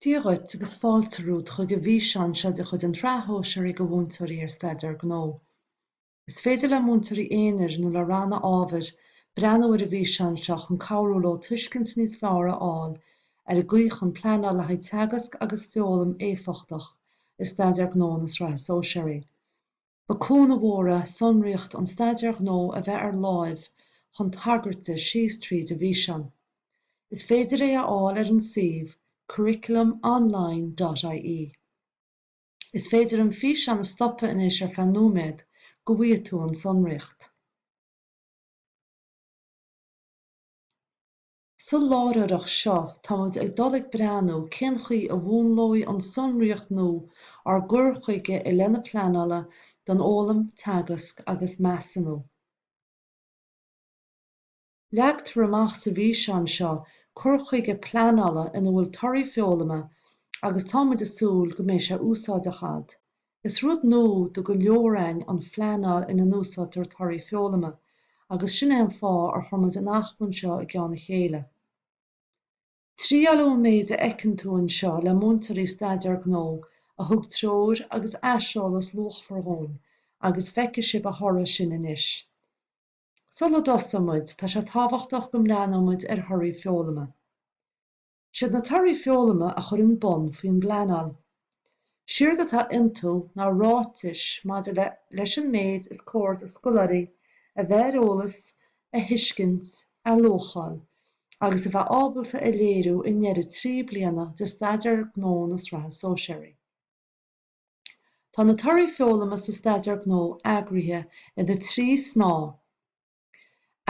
Dia dhuit agus fáilte romhat chuig an bhfíseán seo de chuid an tSraith Shóisearaigh do Mhúinteoirí ar Staidéar Gnó. Is féidir le múinteoirí aonair nó le ranna ábhair breathnú ar an bhfíseán seo chun cabhrú leo tuiscint níos fearr a fháil ar an gcaoi chun pleanáil le haghaidh teagasc agus foghlaim éifeachtach i Staidéar Gnó na Sraithe Sóisearaí. Ba chúnamh mór é Sonraíocht an Staidéir Gnó a bheith ar láimh chun tagairt di síos tríd an bhfíseán. Is féidir é a fháil ar an suíomh curriculumonline.ie. Is féidir an físeán a stopadh anois ar feadh nóiméad go bhfaighidh tú an sonraíocht. Sa láithreoireacht seo tá muid ag dul ag breathnú cén chaoi a mhúnlóidh an sonraíocht nua ár gcur chuige i leith na pleanála don fhoghlaim, teagasc agus measúnú. Leagtar amach sa bhfíseán seo cur chuige pleanála ina bhfuil torthaí foghlama agus tá muid ag súil go mbeidh sé úsáideach ad. Is rud nua do go leor againn an phleanáil ina n-úsáidtear torthaí foghlama agus sin é an fáth ar chuir muid an acmhainn seo i gceann a chéile. Triaileadh an méid a fheiceann tú anseo le múinteoirí Staidéar Gnó a thug treoir agus aiseolas luachmhar dhúinn agus feicfidh sibh a thoradh sin anois. Sula dtosóidh muid, tá sé tábhachtach go mbreathnóidh muid ar thorthaí foghlama. Siad na torthaí foghlama a chuireann bonn faoin bpleanáil. Séard atá iontu ná ráitis maidir leis an méid is cóir do scoláirí a bheith ar eolas, a thuiscint, a luacháil agus a bheith ábalta a léiriú i ndeireadh trí bliana de Staidéar Gnó na Sraithe Sóisearaí. Tá na torthaí foghlama sa Staidéar Gnó eagraithe ina thrí shnáithe,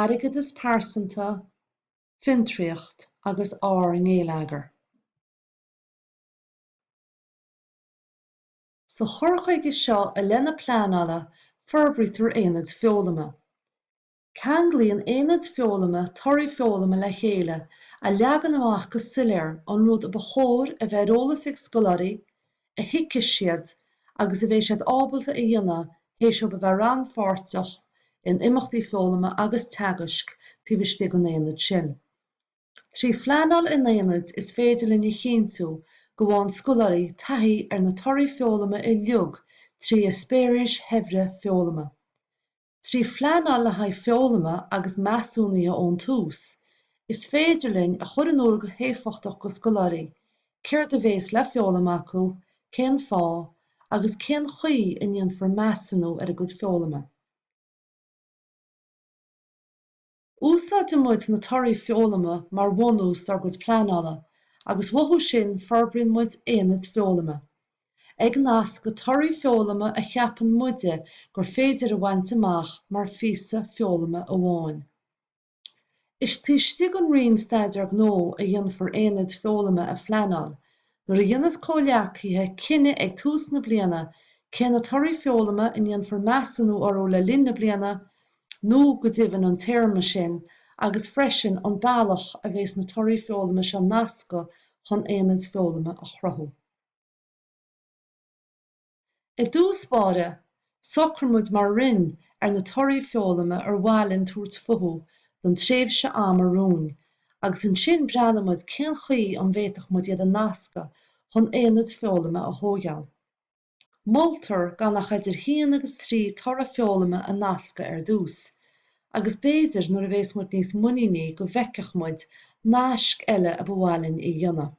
Airgeadas Pearsanta, fiontraíocht agus ár ngeilleagar. Sa chur chuige seo i leith na pleanála forbraítear aonaid foghlama. Ceanglaíonn aonad foghlama torthaí foghlama le chéile a leagann amach go soiléir an rud a ba chóir a bheith ar eolas ag scoláirí, a thuigfidh siad agus a bheidh siad ábalta a dhéanamh théis dóibh a bheith rannpháirteach in imeachtaí foghlama agus teagaisc taobh istigh den aonad sin. Trí phleanáil in aonaid is féidir linn a chinntiú go bhfaigheann scoláirí taithí ar na torthaí foghlama uilig trí eispéiris shaibhre foghlama. Trí phleanáil le haghaidh foghlama agus measúnaithe ón tús, is féidir linn a chur in iúl go héifeachtach do scoláirí céard a bhéas le foghlaim acu, cén fáth, agus cén chaoi a ndéanfar measúnú ar a gcuid foghlama. Úsáideann muid na torthaí foghlama mar bhunús dár gcuid pleanála agus uathu sin forbraíonn muid aonaid foghlama. Ag nascadh torthaí foghlama a cheapann muide gur féidir a bhaint amach mar phíosa foghlama amháin. Is taobh istigh den Roinn Staidéar Gnó a dhéanfar aonaid foghlama a phleanáil nuair a dhéanas comhghleacaithe cinneadh ag tús na bliana cé na torthaí foghlama a ndéanfar measúnú orthu le linn na bliana nó go deimhin an téarma sin, agus freisin an bealach a bheas na torthaí foghlama seo nasctha chun aonaid foghlama a chruthú. I dtús báire, socraímid mar Roinn ar na torthaí foghlama ar mhaith linn tabhairt futhu don tréimhse ama romhainn, agus ansin breathnaímid cén chaoi an bhféadfadh muid iad a nascadh chun aonaid foghlama a thóigeáil. Moltar gan ach idir 1 agus 3 toradh foghlama a nascadh ar dtús, agus b'fhéidir nuair a bhéas muid níos muiníní go bhfeicfeadh muid naisc eile a ba mhaith linn a dhéanamh.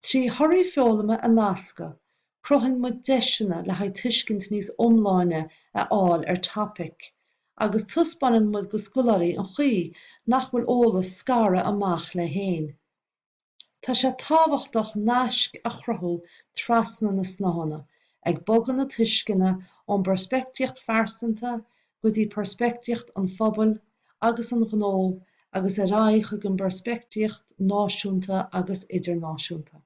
Trí thorthaí foghlama a nascadh, cruthaíonn muid deiseanna le haghaidh tuiscint níos iomláine a fháil ar topaic, agus taispeáineann muid do scoláirí an chaoi nach bhfuil eolas scartha amach leis fhéin. Tá sé tábhachtach naisc a chruthú trasna na snáitheanna, ag bogadh na tuisceana ón bpeirspictíocht phearsanta go dtí peirspictíocht an phobail agus an ghnó agus ar aghaidh chuig an bpeirspictíocht náisiúnta agus idirnáisiúnta.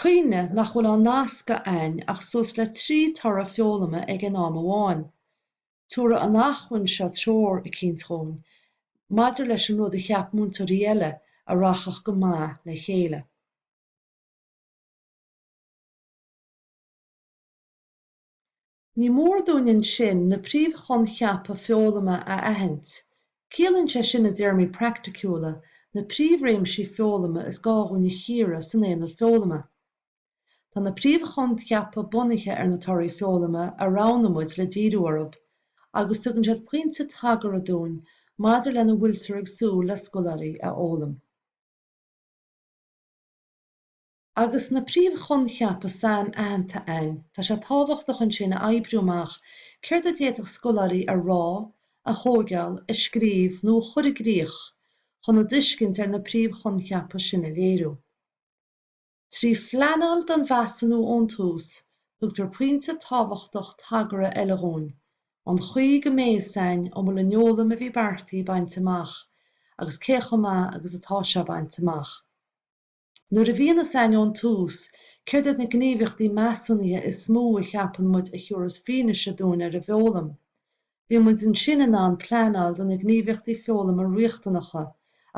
Cuimhnigh nach bhfuil á nascadh a'ainn ach suas le 3 toradh foghlama ag aon am amháin. Tabharfaidh an acmhainn seo treoir eicínt dhúinn maidir leis an rud a cheap múinteoirí eile a rachadh go maith le chéile. Ní mór dúinn ansin na príomhchoincheapa foghlama a aithint. Ciallaíonn sé sin i dtéarmaí praiticiúla na príomhréimsí foghlama is gá dhúinn a chíoradh san aonad foghlama. Tá na príomhchoincheapa bunaithe ar na torthaí foghlama a roghnaigh muid le díriú orthub agus tugann siad pointe tagartha dúinn maidir lena bhfuiltear ag súil le scoláirí a fhoghlaim. Agus na príomh-choincheapa sainaitheanta a'ainn, tá sé tábhachtach ansin a oibriú amach céard a d'fhéadfadh scoláirí a rá, a thógáil, a scríobh nó a chur i gcrích chun a dtuiscint ar na príomh-choincheapa sin a léiriú. Trí phleanáil don mheasúnú ón tús, tugtar pointe tábhachtach tagartha eile dhúinn, sa chaoi go mbeidh a fhios a'ainn an bhfuil an fhoghlaim a bhí beartaithe bainte amach agus cé chomh maith agus atá sé bainte amach. Nuair a bhíonn a sainiú ón tús, céard iad na gníomhaíochtaí measúnaithe is mó a cheapann muid a thabharfas fianaise dúinn ar an bhfeoghlaim? Bíonn muid ansin in ann pleanáil do na gníomhaíochtaí foghlama riachtanacha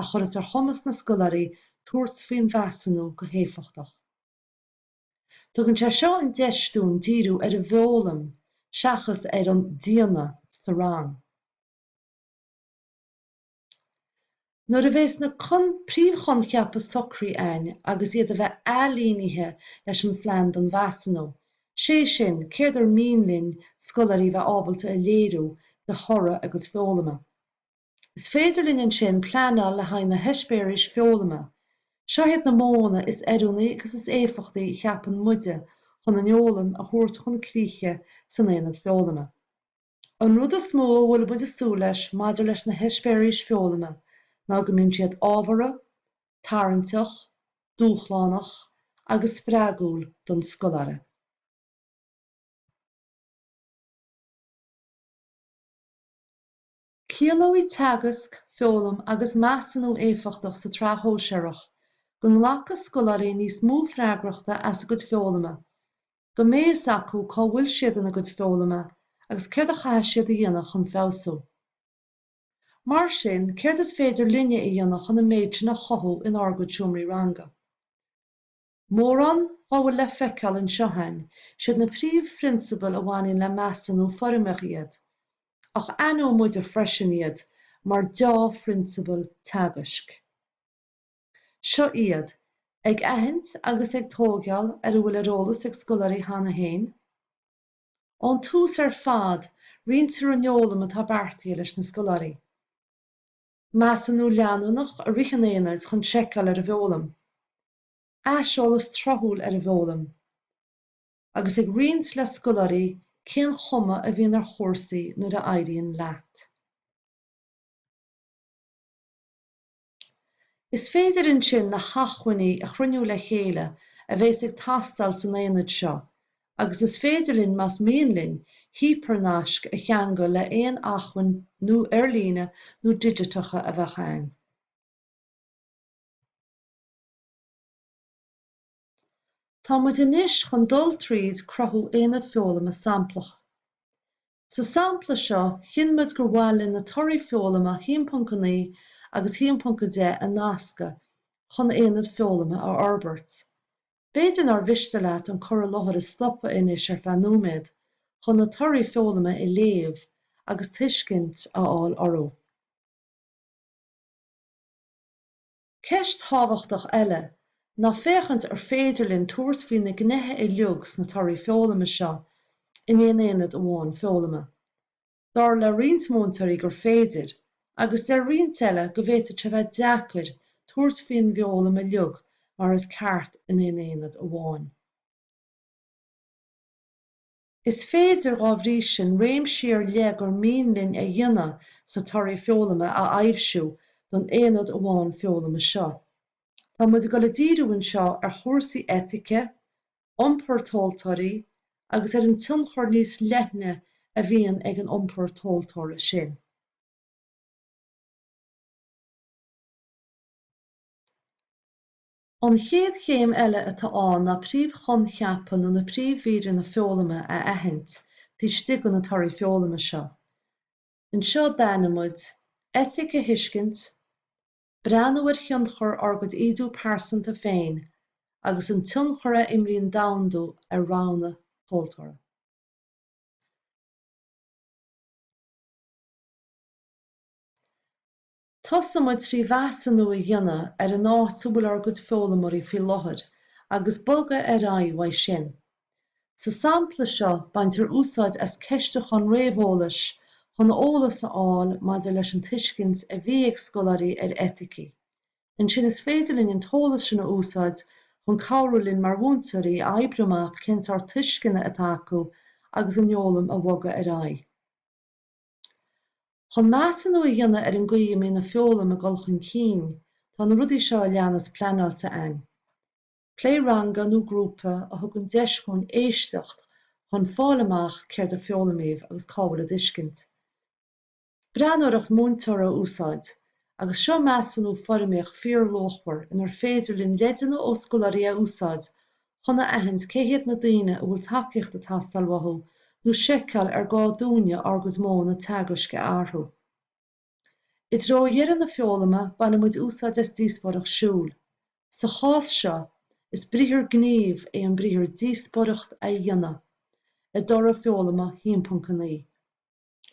a chuireas ar chumas na scoláirí tabhairt faoin mheasúnú go héifeachtach. Tugann sé seo an deis dúinn díriú ar an bhfoghlaim seachas ar an 'déanamh' sa rang. Nuair a bheas na príomhchoincheapa socraithe againn agus iad a bheith ailínithe leis an phlean don mheasúnú, sé sin, céard ar mian linn scoláirí bheith ábalta a léiriú de thoradh a gcuid foghlama. Is féidir linn ansin pleanáil le haghaidh na heispéiris foghlama. Seo iad na modhanna is oiriúnaí agus is éifeachtaí a cheapann muide chun an fhoghlaim a thabhairt chun críche san aonad foghlama. An rud is mó a bhfuil muid ag súil leis maidir leis na heispéiris foghlama ná go mbíonn siad ábhartha, tarraingteach, dúshlánach agus spreagúil don scoláire. Ciallóidh teagasc, foghlaim agus measúnú éifeachtach sa tsraith shóisearach go nglacfaidh scoláirí níos mó freagrachta as a gcuid foghlama, go mbeidh a fhios acu cá bhfuil siad ina gcuid foghlama agus céard a chaithfidh siad a dhéanamh chun feabhsú. Mar sin, céard is féidir linne a dhéanamh chun an méid sin a chothú in ár gcuid seomraí ranga? Mórán dá bhfuil le feiceáil anseo,, siad na príomhphrionsabail a bhaineann le measúnú foirmeach iad, ach aithneoidh muide freisin iad mar dea-phrionsabail teagaisc. Seo iad, ag aithint agus ag tógáil ar a bhfuil ar eolas ag scoláirí cheana féin. Ón tús ar fad, roinntear an fhoghlaim atá beartaithe leis na scoláirí. Measúnú leanúnach i rith an aonaid chun seiceáil ar an bhfoghlaim. Aiseolas tráthúil ar an bhfoghlaim. Agus ag roinnt le scoláirí cén chuma a bhíonn ar chúrsaí nuair a éiríonn leat. Is féidir ansin na hacmhainní a chruinniú le chéile a bheas ag teastáil san aonad seo agus is féidir linn, más mian linn, hípearnaisc a cheangal le haon acmhainn nó ar líne nó digiteacha a bheadh ann. Tá muid anois chun dul tríd cruthú aonad foghlama samplach. Sa sampla seo, chinn muid gur mhaith linn na torthaí foghlama 1.9 agus 1.10 a nascadh chun aonad foghlama a fhorbairt. B'fhéidir nár mhiste leat an cur i láthair a stopadh anois ar feadh nóiméad chun na torthaí foghlama a léamh agus tuiscint a fháil orthu. Ceist thábhachtach eile ná féachaint ar féidir linn tabhairt faoi na gneithe uilig sna torthaí foghlama seo in aon aonad amháin foghlama. Dar le roinnt múinteoirí gur féidir, agus deir roinnt eile go bhféadfadh sé bheith deacair tabhairt faoin bhfoghlaim uilig mar is ceart in aon aonad amháin. Is féidir, dá bhrí sin, réimsí ar leith gur mian linn a dhéanamh sna Torthaí Foghlama a aibhsiú don Aonad amháin Foghlama seo. Tá muid ag dul ag díriú anseo ar chúrsaí eitice, iompar tomhaltóirí agus ar an tionchar níos leithne a bhíonn ag an iompar tomhaltóra sin. An chéad chéim eile atá ann ná príomhchoincheapa nó na príomhmhíreanna foghlama a aithint taobh istigh de na torthaí foghlama seo. Anseo d'aithin muid, eitic a thuiscint, breathnú ar thionchar ár gcuid ídiú pearsanta féin agus an tionchar a imríonn domhandú ar roghanna tomhaltóra. Tosaíonn muid trí mheasúnú a dhéanamh ar an áit a bhfuil ár gcuid foghlaimoirí faoi láthair agus bogadh ar aghaidh uaidh sin. Sa sampla seo baintear úsáid as ceistiúchán réamheolais chun eolas a fháil maidir leis an tuiscint a bhí ag scoláirí ar eiticí. Ansin is féidir linn an t-eolas sin a úsáid chun cabhrú linn mar mhúinteoirí a oibriú amach cén sórt tuisceana atá acu agus an fhoghlaim a bhogadh ar aghaidh. Chun measúnú a dhéanamh ar an gcaoi a mbíonn an fhoghlaim ag dul chun cinn, tá na rudaí seo a leanas pleanáilte againn. Plé ranga nó grúpa a thugann deis dhúinn éisteacht chun fáil amach céard a foghlaimíodh agus cá bhfuil a dtuiscint. Breathnóireacht múinteora a úsáid, agus seo measúnú foirmíoch fíorluachmhar inar féidir linn leideanna ó scoláirí a úsáid chun a aithint cé hiad na daoine a bhfuil tacaíocht ag teastáil uathu nó seiceáil ar gá dúinne ár gcuid modhanna teagaisc a athrú. I dtreo dheireadh na foghlama baineann muid úsáid as díospóireacht siúil. Sa chás seo, is briathar gnímh é an briathar 'díospóireacht' a dhéanamh i dtoradh foghlama 1.9.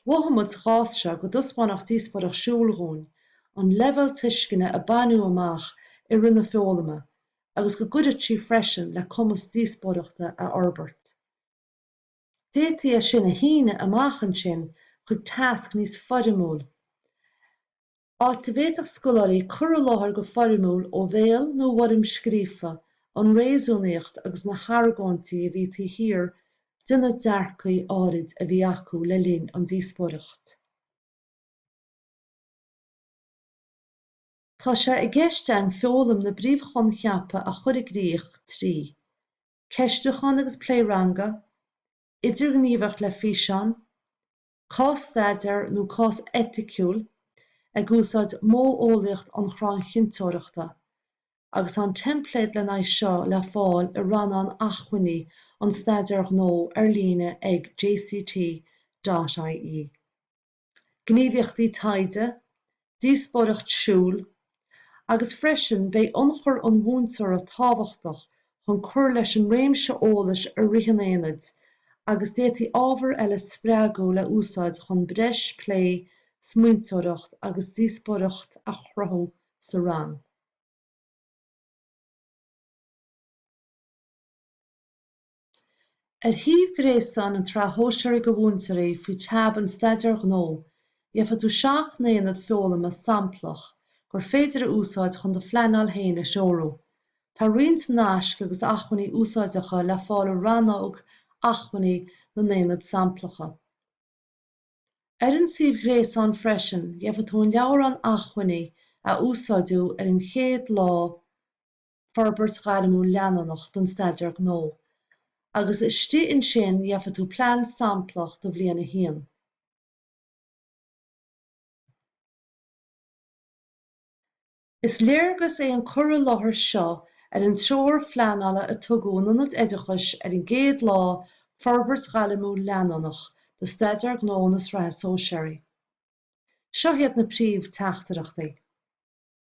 Mhothaigh muid sa chás seo go dtaispeánfadh díospóireacht siúil dhúinn an leibhéal tuisceana a baineadh amach i rith na foghlama agus go gcuirfeadh sí freisin le cumas díospóireachta a fhorbairt. D'fhéadfaí é sin a shíneadh amach ansin chuig tasc níos foirmiúla. áit a bhféadfadh scoláirí cur i láthair go foirmiúil ó bhéal nó i bhfoirm scríofa an réasúnaíocht agus na hargóintí a bhí taobh thiar de na dearcaí áirid a bhí acu le linn an díospóireacht. Tá sé i gceist againn foghlaim na bpríomhchoincheapa a chur i gcrích trí, Ceistiúchán agus plé ranga, Idirghníomhaíocht le físeáin, Cás-staidéar nó cás eiticiúil ag úsáid modheolaíocht an chrainn chinnteoireachta, agus an teimpléad lena aghaidh seo le fáil i rannán acmhainní an staidéir ghnó ar líne ag jct.ie. Gníomhaíochtaí taighde, díospóireacht siúil, agus freisin beidh ionchur an mhúinteora tábhachtach chun cur leis an réimse eolais i rith an aonaid agus d'fhéadfaí ábhar eile spreagúil a úsáid chun breis plé, smaointeoireacht agus díospóireacht a chruthú sa rang. Ar shuíomh gréasáin an tSraith Shóisearach do Mhúinteoirí faoi teab an Staidéir Ghnó, gheobhaidh tú seacht n-aonad foghlama samplach gur féidir a úsáid chun do phleanáil féin a threorú. Tá roinnt naisc agus acmhainní úsáideacha le fáil i rannóg Acmhainní na n-aonad samplacha. Ar an suíomh ghréasáin freisin, gheobhaidh tú an leabhrán acmhainní a úsáideadh ar an chéad lá, forbairt ghairmiúil leanúnach don Staidéar Gnó agus istigh ansin gheobhaidh tú plean samplach do bhliain a haon. Is léargas é an cur i láthair seo ar an treoir phleanála a tugadh in Ionaid Oideachais ar an gcéad lá, Forbairt Ghairmiúil Leanúnach do Staidéar Gnó na Sraithe Sóisearaí. Seo hiad na príomh-teachtaireachtaí.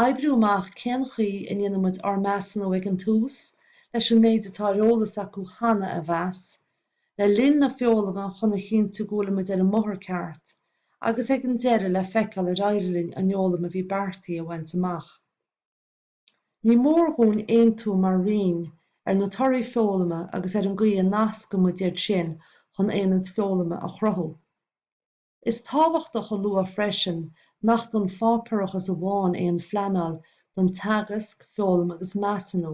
Oibriú amach cén chaoi a ndéanann muid ár measúnú ag an tús, leis an méid atá ar eolas acu cheana a mheas, le linn na foghlama chun a chinntiú go bhfuilimid ar an mbóthar ceart, agus ag an deireadh le feiceáil ar éirigh linn an fhoghlaim a bhí beartaithe a bhaint amach. Ní mór dhúinn aontú mar roinn ar na torthaí foghlama agus ar an gcaoi a nascann muid iad sin chun aonaid foghlama a chruthú. Is tábhachtach a lua freisin nach don pháipéarachas amháin é an phleanáil don teagasc, foghlaim agus measúnú,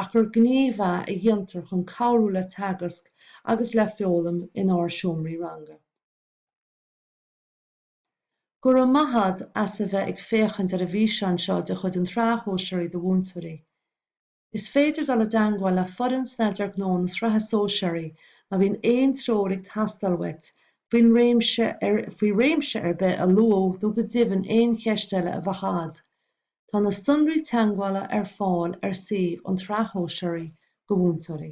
ach gur gníomh é a dhéantar chun cabhrú le teagasc agus le foghlaim in ár seomraí ranga. Go raibh maith agat as a bheith ag féachaint ar an bhfíseán seo de chuid an tSraith Shóisearach do Mhúinteoirí. Is féidir dul i dteangmháil le foireann Staidéar Gnó na Sraithe Sóisearaí má bhíonn aon treoir ag teastáil uait faoi réimse ar bith a luadh nó go deimhin aon cheist eile a bheadh agat. Tá na sonraí teagmhála ar fáil ar suíomh an tSraith Shóisearaí do Mhúinteoirí.